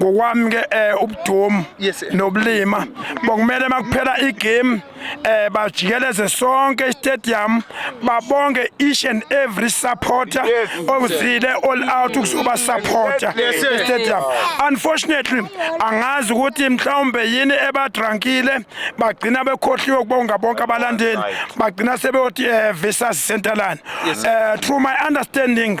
ngokwami ke eh ubudumo nobulima bokumele makuphela igame eh bajikeleze sonke istadium babonge each and every supporter ozile all out ukuzoba supporter istadium unfortunately angazi ukuthi mhlawumbe yini ebadrankile bagcina bekhohliwe ukubonga bonke abalandeli bagcina sebeyothi eh versus centerland eh through my understanding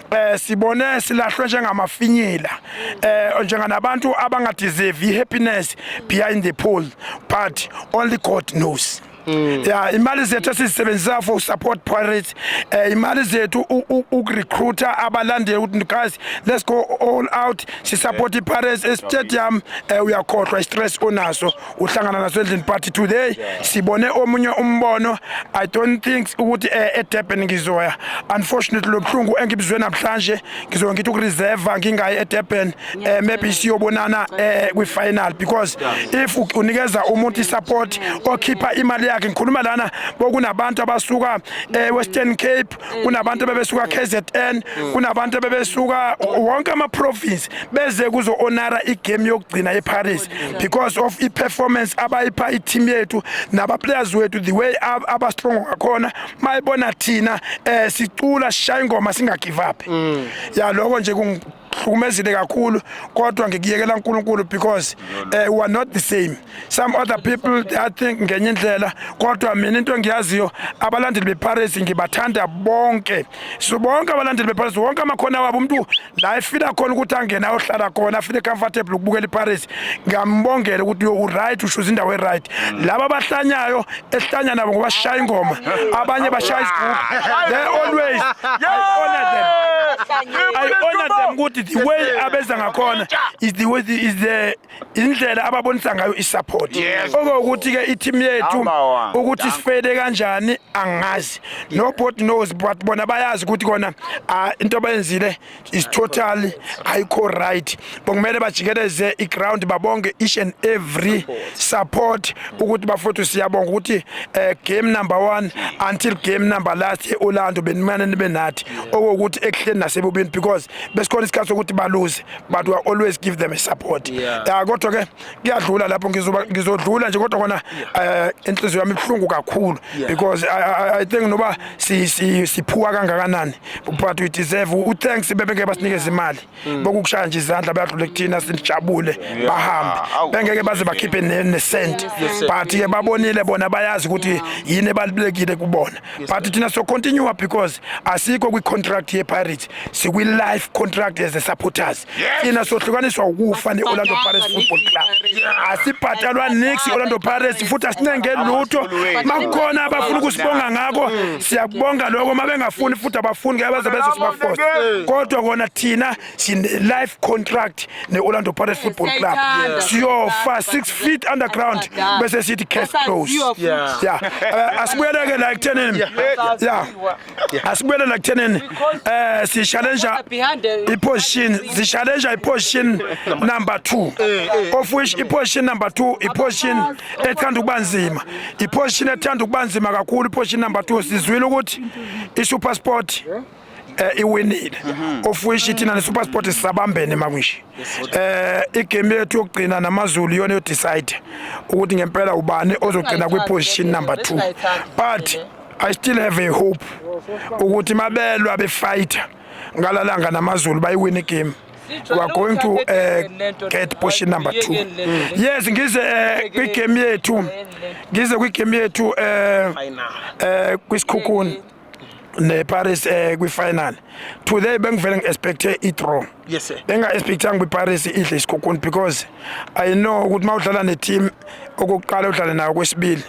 eh sibone silahlwe njengamafinyila eh njenganabantu abangadeserve ihappiness behind the pool but only God knows Mm. ya imali zethu esizisebenzisa for support pirates eh imali zethu ukurecruiter abalandeli ukuthi guys let's go all out si support yeah. pirates e stadium eh uyakhohlwa i stress onaso uhlangana nasendlini party today sibone omunye umbono i don't think ukuthi eh, edurban ngizoya unfortunately lobuhlungu engibizwe namhlanje ngizoke ngithi ukureserva ngingayi edurban eh, maybe siyobonana eh, kwi-final because if unikeza umuntu isupport okhipha imali yakhe ngikhuluma lana bokunabantu abasuka ewestern cape kunabantu bebesuka KZN kunabantu bebesuka wonke ama province beze kuzo honora igame yokugcina eParis because of i performance abayipha i team yethu naba players wethu the way aba strong ngakhona mayibona thina eh sicula sishaya ingoma singa give up mm. ya lokho nje hlukumezile kakhulu kodwa ngikuyekela uNkulunkulu because uh, we are not the same some other people they think ngenye indlela kodwa mina into engiyaziyo abalandeli bePirates ngibathanda bonke so bonke abalandeli bePirates wonke amakhona wabo umuntu la efila khona ukuthi angene ayohlala khona afile comfortable ukubukela iPirates ngiyambongela ukuthi you right ushuza indawo e right laba abahlanyayo esihlanya nabo ngoba sishaya ingoma abanye bashaya izigubhu they always I honor them I honor them ukuthi the way abenza ngakhona is the way is the indlela ababonisa ngayo isupport okokuthi ke i-team yethu ukuthi sifele kanjani angazi nobody knows but bona bayazi ukuthi kona ah, into abayenzile is totally ayikho right bokumele bajikeleze iground babonge each and every support ukuthi bafowethu siyabonga ukuthi eh, game number 1 until game number last eOrlando benimane nibe nathi okokuthi ekuhleni nasebubini because besikhona isikhathi sokuthi baluze but we always give them a support yeah. uh, kodwa ke kuyadlula lapho ngizoba ngizodlula nje kodwa kona eh, inhliziyo yami ibuhlungu kakhulu because I, I, I think noba si si siphuwa kangakanani but we deserve u thanks bebengeke basinikeze imali mm. bokukushaya nje izandla bayadlula kuthina sinijabule bahambe bengeke baze bakhiphe ne cent but ke babonile bona bayazi ukuthi yini ebalibekile kubona but thina so continue because asikho kwi contract ye Pirates sikwi life contract as a supporters thina sohlukaniswa ukufa ne-orlando pirates football club asibhatalwa nix i-orlando pirates futhi asincenge lutho makukhona abafuna ukusibonga ngako mm. siyakubonga loko uma bengafuni futhi abafuni ke baze bezosibafosa kodwa kona thina sine-life contract ne-orlando pirates football club siyofa six feet underground bese sithi case close ya eh, asibuyeleke la ekuthenini ya asibuyele la kuthenini eh si challenge iposition si challenge iposition number 2 of which iposition number 2 iposition ethanda ukubanzima iposition ethanda ukubanzima kakhulu iposition number 2 sizwile ukuthi iSuper Sport eh iwinile mhm. of which ithina ne SuperSport sisabambene makunje eh igame yethu yokugcina namazulu yona yo decide ukuthi ngempela ubani ozogcina kwi position number 2 but I still have a hope ukuthi mabelwa befighter ngalalanga namazulu bayiwina igame we are going to uh, get portion number 2 yes ngize uh, kwi game yethu ngize kwi game yethu uh, uh, kwisikhukhuni ne Paris eh kwi final today bengivele ngi expect i draw yes sir benga expect ngi Paris idle isikhukhuni because i know ukuthi mawudlala ne team okuqala udlale nayo kwesibili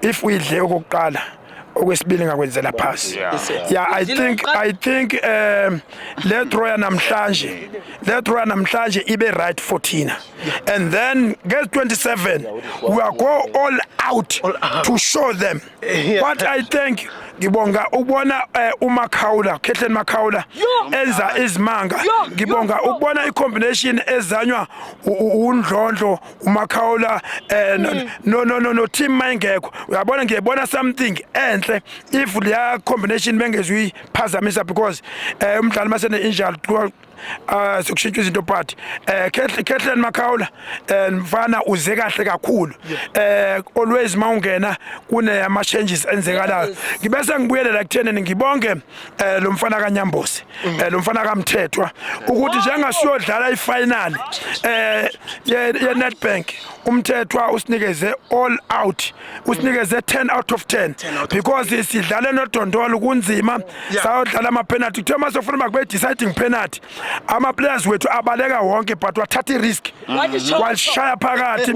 if uyidle okokuqala okwesibili ngakwenzela phasi yeah i think i think um le draw yanamhlanje le draw yanamhlanje ibe right for thina and then get 27 we are go all out to show them what i think ngibonga ukubona eh, uMakhawula Khehleni Makhawula enza izimanga ngibonga ukubona icombination ezanywa uNdlondlo uMakhaula eh no mm. no no, no, no team mayingekho uyabona ngiyebona something enhle if leya combination bengezwi phazamisa because eh umdlali masene injury uh sokushintsha izinto part eh Khethleni Makhaula eh, mfana uze kahle kakhulu eh always mawungena kune ama changes enzekalayo ngibese ngibuyelela kutheni ngibonge eh lo mfana kaNyambosi mm. eh lo mfana kaMthethwa ukuthi njengasiyodlala ifinal eh ye Nedbank umthethwa usinikeze all out usinikeze 10 out of 10 because sidlale nodondolo kunzima sayodlala ama penalty kuthiwa mase ufuna makube deciding penalty ama players wethu abaleka wonke but wathatha risk mm-hmm. washaya phakathi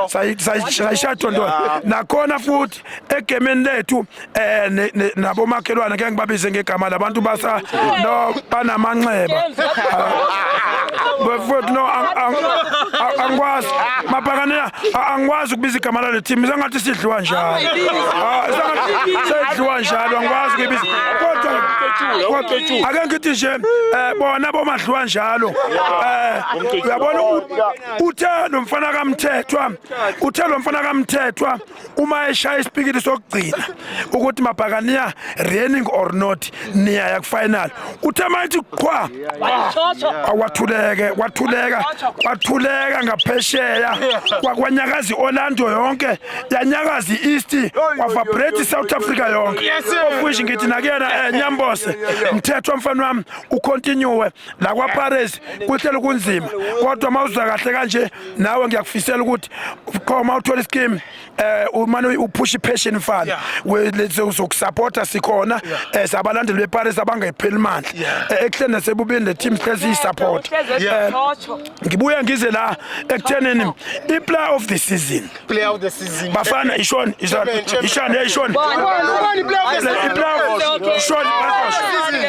sayi sayi sayi dondolo nakhona futhi egemeni lethu eh nabomakhelwane ke ngibabize ngegama labantu basa no banamanxeba bafowethu no angikwazi mabhakana angikwazi ukubiza igama lale team sengathi sidliwa njalo ah, sedliwa njalo angikwazi kuyibiza kodwa ake ngithi nje eh, bona bomadliwa njalo eh, uyabona uthe lo mfana kamthethwa uthe lo mfana kamthethwa uma eshaya isipikili sokugcina ukuthi mabhakaniya reigning or not niyaya kufinal uthe mayithi qhwa awathuleke kwathuleka kwathuleka ngaphesheya kwakwanyakazi Orlando yonke yanyakazi East kwavibrate South Africa yonke ofushi ngithi nakuyena eh, nyambose mthetho mfana wami ucontinue la kwa Paris kuhlelo kunzima kodwa mawuzwa kahle kanje nawe ngiyakufisela ukuthi khoma uthola iskim um eh, umane uphusha ipassion mfana sokusapota sikhona um sabalandeli beparis abangepheli mandla eh, ekuhleni nasebubini le team sihlezi iyisapota ngibuye ngize la ekuthenini i-player of the season bafana ishoni ishoni ishoni ishoni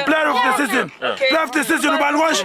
player of the season player of the season ubani konje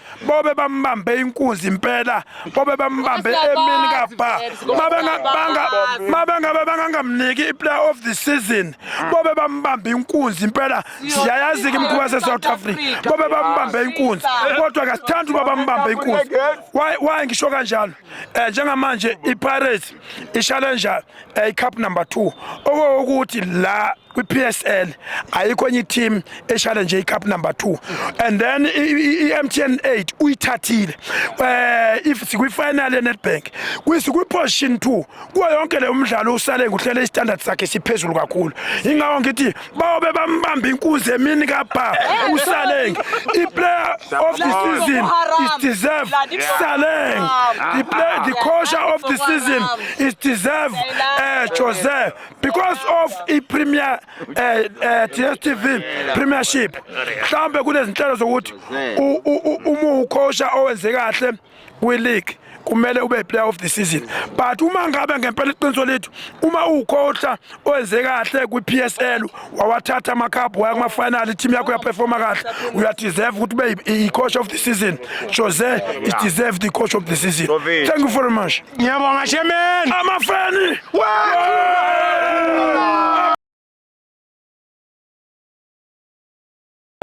bobe bambambe inkunzi impela bobe bambambe emini kabha mabengabe bangangamniki i-player of the season bobe bambambe inkunzi impela siyayazi-ke imikhuba se-south africa bobe bambambe inkunzi kodwa kasithandi uba bambambe inkunzi waye ngisho kanjalo um njengamanje i-pirates ishalenja eh, i-cup number two okokuthi la kwi-PSL ayikho enye i-team eshale nje i-cup number 2 and then i-MTN 8 uyithathile eh if sikwi-final ye-Nedbank kwisikwi-position 2 kuwo yonke le umdlalo usale nguhlele i-standard sakhe siphezulu kakhulu ingawo ngithi bayobe bambamba inkunzi emini kabha usaleng i-player of the season is deserve saleng the, player, the coach of the season is deserve uh, jose because of i-premier uh, eh, uh, eh, dstv premiership mhlawumbe kunezinhlelo zokuthi uma ukhosha owenze kahle kwi-league kumele ube player of the season but uma ngabe ngempela iqiniso lethu uma uwukhotha owenze kahle kwi-PSL wawathatha amakhaphu waya kuma-final i-team yakho yaperforma kahle uyadeserve ukuthi ube i-coach of the season Jose is deserve the coach of the season thank you very much Ngiyabonga shemeni. Amafeni. Wee!